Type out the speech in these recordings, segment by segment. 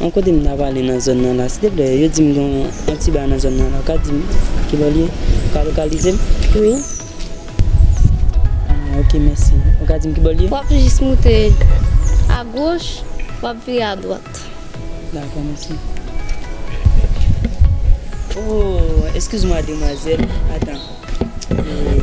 An kote m ta prale nan zòn nan la silteplè yo di m gen yon ti ba nan zòn nan la ou ka di m kilè l ye ou ka lokalize m? Wi. Ah ok mèsi ou ka di m kibò l ye? W ap jis moute a goch w ap vire a dwat. Dakò mèsi. Oh eskiz mwa demwazèl atan ee.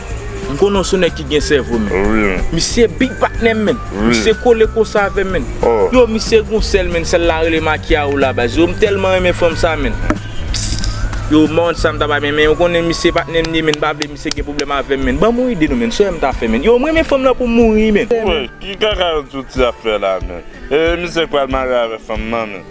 M konnen w son nèg ki gen sèvo menn. Misye big patnèm menn. Misye kole konsa avèm menn. Yow misye gon sèl menn sèl la rele makia ou la baz. Yow m tèlman renmen fanm sa menn. Yow m pa konn sam ta bay menn menn ou konnen misye patnèm li ye menn m pa vle misye gen pwoblèm avèm menn. Banm yon ide non menn sèm ta fè menn. Yow m renmen fanm lan poum mouri menn. Woy ki kaka yo touti ap fè la menn. Ee misye k pral marye avè fanm nan menn.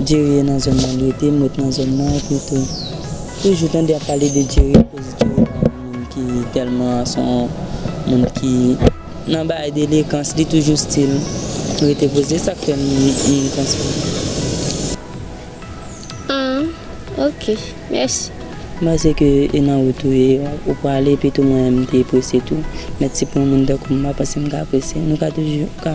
Djeriye nan zòn nan li rete m ret nan zòn nan epi tou toujou tande ap pale de djeriye koz djeriye pa yon moun ki tèlman son moun ki nan bagay delekans li toujou stil rete poze se sak fè m panse ah ok mèsi. M panse ke e nan wout ou ye ou prale epi tou mwen menm m te prese tou mèt si pou yon moun tankou m m pa panse m ka prese nou ka toujou ka.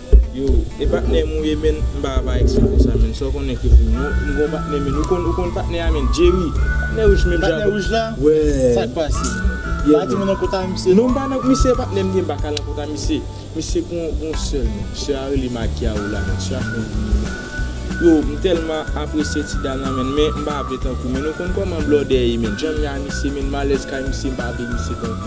Yo, e patnè m ou ye menn m pa apa ex fanmi sa menn sa w konnen ke pou nou m gon patnè menn ou konn ou konn patnè a menn Jerry patnè rouj menn patnè rouj la sak pase pa di mwen nan kont a misye non m pa nan misye patnè m ye m pa ka nan kont a misye misye gon gon sè l menn sè a rele Makia ou la menn sè a konn pi menn yo m tèlman apresye ti dam nan menn men m pa vle tankou menn ou konn kòman blòdè ye menn janm ye a misye menn malèz kay misye m pa vle misye tankou.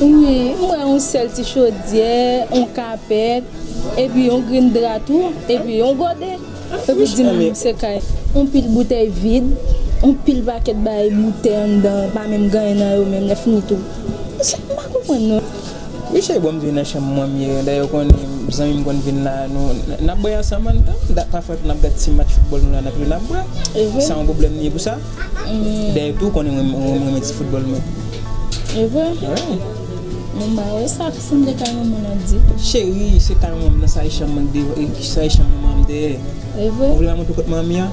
Wi m wè yon sèl ti chodyè, yon kapèt, epi yon grenn dra tou, epi yon gòde, e pou di m se kay. Yon pil boutèy vid, yon pil pakèt bagay boutèy anndan pa menm gen anyen nan yo menm lè fini tou. Sa m pa konprann non. Misye bon m vini nan chanm mwen m ye lè yo konnen zanmi m konn vin la nou n ap bwè ansanm anndan, dat pafwa tou n ap gad ti match foutbòl nou la n ap jwe n ap bwè san yon pwoblèm n ye pou sa. Dayè tou konnen mwen renmen ti foutbòl mwen. E vre? Wi. Bon bagay sa pou foun de kay manman nan di. Cheri se kay manman nan sa e chanm mwen deyò e sa e chanm manman an deyè. E vre? Ou vle mwen montre w kot manman an?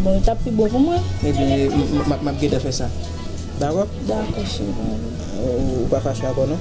Bon li tap pi bon pou mwen. Ebyen map gentan fè sa. Dakò? Dakò cheri. Ou pa fache avèw non?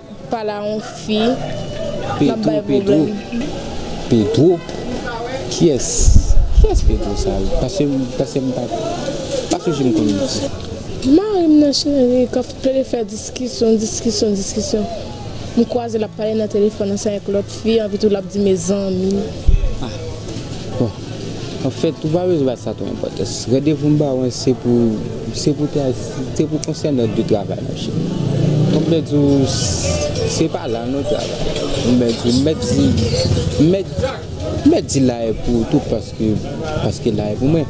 Pala yon fi nap bay problem. Pedro kiyès kiyès pedro sa yo pasem pasem pa pa sonje m konn li. Marim nan cheri kap plede fè diskisyon diskisyon diskisyon m kwaze lap pale nan telefòn ansanm ak lòt fi anpi tou lap di mezanmi. Ah bon Anfèt, ou pa bezwen bay sa twò enpòtans. Randevou m ba ou an se pou se pou te al se pou konsèy nòt de travay mon chè. Donk mwen di ou se pa la nou travay. Mwen di ou mèt di mèt mèt di la e pou ou tou paske paske la e pou mwen.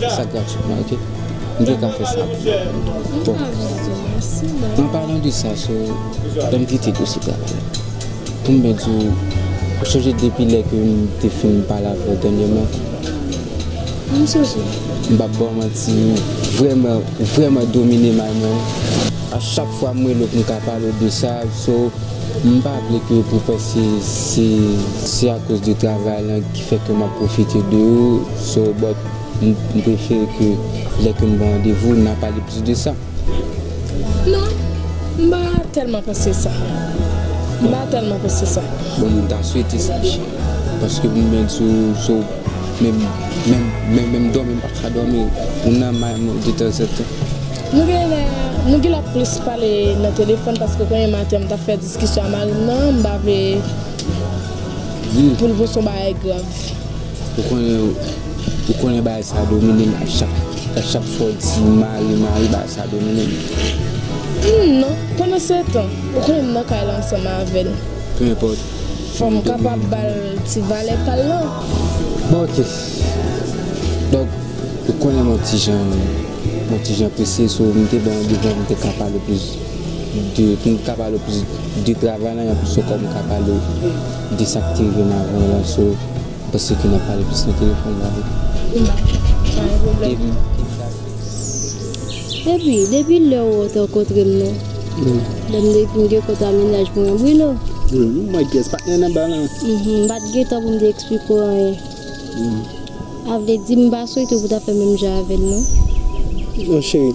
Sa gratuitman ok m te ka fè sa pou ou bon an palan de sa so lè m kite dosye travay la pou m byen di w ou sonje depi lè ke m te fin pale avè w dènyèman m sonje m pap ba w manti ou vrèman ou vrèman domine may mwen a chak fwa m rele w pou m ka pale w de sa so m pa vle ke pou w panse se se akoz de travay lan. Fè ke map profite de ou so but m prefere ke lè ke m ba w randevou nan pale plis de sa. Non, m pa tèlman panse sa. M pa tèlman panse sa. Bon m ta swete sa cheri. Paske m byn sou so menm menm dòmi m paka dòmi ou nan may mwen de tanzantan. Nou genlè nou genlè plis pale nan telefòn paske konye maten m tap fè diskisyon a mari m nan m pa vle. Pou l vo son bagay grav. Ou konnen ou konnen bagay sa domine m a chak fwa w di mari mari bagay sa domine m. Humm non, pandansetan ou konnen m nan kay la ansanm avè l. Peu importe. Fò m kapab ba l ti valè pa l lan. Bon ok. Donk ou konnen m yon ti jan m yon ti jan prese so m te ba w devan m te ka pale plis. 2, pou m ka pale w plis de travay lan, anplis ankò m ka pale w de sa k te rive m avan lan, so m panse ke n ap pale plis nan telefòn la wi. Bon bagay, pa gen pwoblèm. Epi, depi lè ou te rankontre m nan, lè m te fin gen kont a mennaj mwen an, Brino. Wi, m wè pyès patnè nan ba lan. M pa t gen tan pou m te eksplike w anyen. A vle di, m pa swete w pou w ta fè menm jan avè l non. Non cheri.